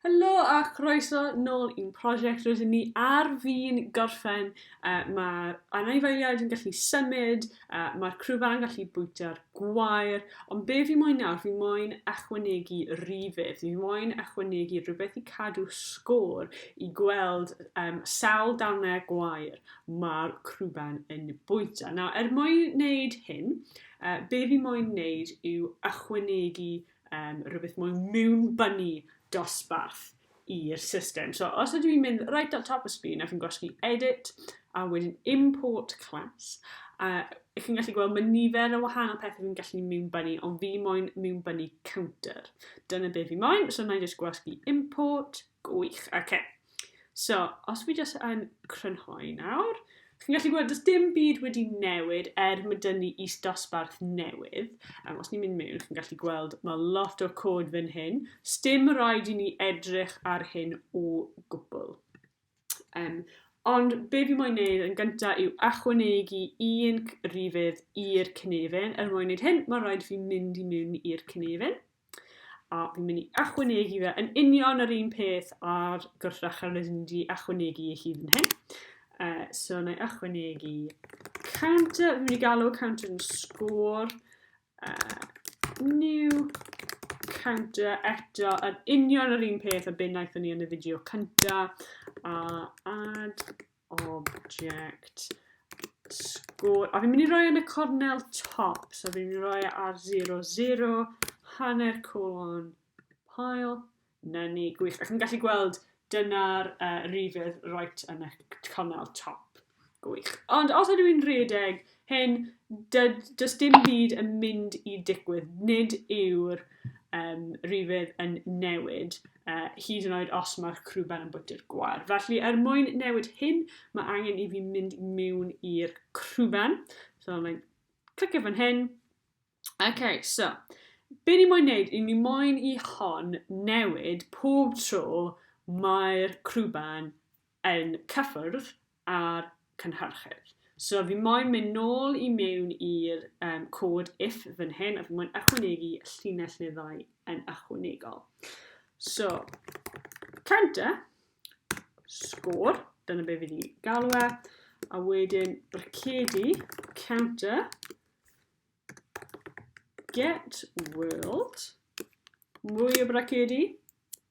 Helo a chroeso nôl i'n prosiect rydyn ni ar fin gorffen. Uh, Mae'r anifeiliaid yn gallu symud, uh, mae'r crwfa yn gallu bwyta'r gwair, ond be fi moyn nawr, fi moyn ychwanegu rifydd, fi moyn ychwanegu rhywbeth i cadw sgôr i gweld um, sawl darnau gwair mae'r crwban yn bwyta. Nawr, er mwyn wneud hyn, uh, be fi moyn wneud yw ychwanegu um, rhywbeth mwy mewn bunny dosbarth i'r system. So os ydw i'n mynd right at top y sgrin ac yn gwasgu edit a wedyn import class, a ych chi'n gallu gweld mae nifer o wahanol pethau fi'n gallu mewn bunny, ond fi moyn mewn bunny counter. Dyna beth fi moyn, so na i just gwasgu import, Gwych, oce. So, os fi jyst yn crynhoi nawr, chi'n gallu gweld, does dim byd wedi newid er mae dyn ni is dosbarth newydd. Um, os ni'n mynd mewn, chi'n gallu gweld, mae lot o cod fan hyn. Stim rhaid i ni edrych ar hyn o gwbl. Um, Ond be fi moyn neud yn gyntaf yw achwanegu un rifydd i'r cynefin. Er mwyn neud hyn, mae'n rhaid fi mynd i mewn i'r cynefin. A fi'n mynd i achwanegu fe yn union yr un peth ar gwrthrych ar rydyn ni wedi achwanegu i hyd yn hyn. Uh, so na i achwanegu counter, fi'n mynd i galw counter yn sgôr. Uh, new counter eto yn union yr un peth a beth wnaethon ni yn y fideo cynta a add Object. Sgôr. A fi'n mynd i roi yn y cornel top. So fi'n mynd i roi e ar 0, 0, hanner colon, pile. Na ni, gwych. Ac yn gallu gweld dyna'r uh, rifydd right yn y cornel top. Gwych. Ond os ydw i'n rhedeg hyn, does dim byd yn mynd i digwydd. Nid yw'r um, rifydd yn newid. uh, hyd yn oed os mae'r crwben yn bwyty'r gwar. Felly, er mwyn newid hyn, mae angen i fi mynd mewn i'r crwben. So, mae'n clicio fan hyn. Okay, so, be ni moyn neud, i ni moyn i hon newid pob tro mae'r crwben yn cyffwrdd a'r cynhyrchydd. So fi moyn mynd nôl i mewn i'r um, cod if fan hyn, a fi moyn ychwanegu y llinell neu ddau yn ychwanegol. So, counter, sgôr, dyna be fi wedi galw e, a wedyn bracedi, counter, get world, mwy o bracedi,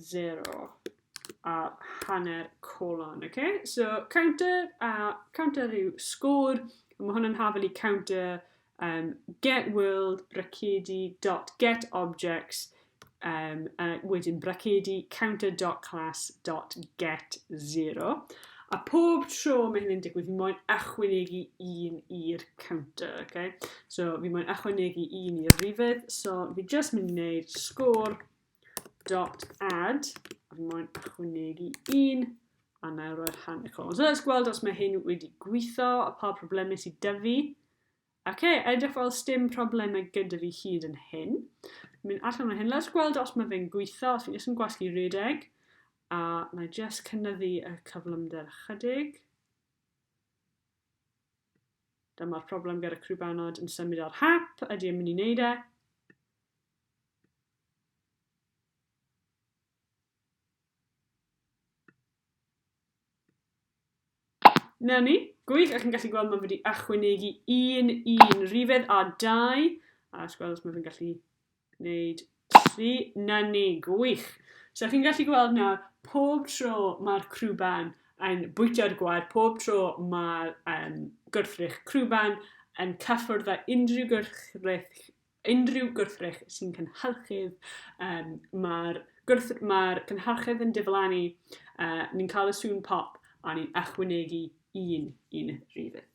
0 a hanner colon, oce? Okay? So, counter a counter yw sgôr, mae hwn yn hafelu counter um, get world bracedi dot get objects um, a wedyn bracedi counter dot class dot get 0. A pob tro mae hyn yn digwydd, fi moyn ychwanegu un i'r counter, okay? So fi moyn achwanegu un i'r rifydd. So fi just mynd i wneud sgôr dot add. A fi moyn achwanegu un. A na i roi'r han y colon. So let's gweld os mae hyn wedi gweithio a pa problemau sydd dy fi. Ac okay, edrych fel stym problemau gyda fi hyd yn hyn. Mynd allan o hyn. Let's gweld os mae fe'n gweithio. Os fi'n just yn gwasgu redeg. A na i just cynnyddu y cyflymder chydig. Dyma'r problem gyda crwbanod yn symud ar hap, ydy e'n mynd i wneud e? Na ni. Gwych, a chi'n gallu gweld mae wedi achwynegu un un rifedd a dau. A os gweld os mae fe'n gallu Gwneud tri. 'Na ni. Gwych. So chi'n gallu gweld nawr, pob tro mae'r crwban yn bwyta'r gwar, pob tro mae'r um, gwrthrych crwban yn cyffwrdd â unrhyw gwrthrych unrhyw gwrthrych sy'n cynhyrchydd, um, mae'r ma cynhyrchydd yn diflannu, uh, ni'n cael y sŵn pop a ni'n ychwanegu un i'n rhyfedd.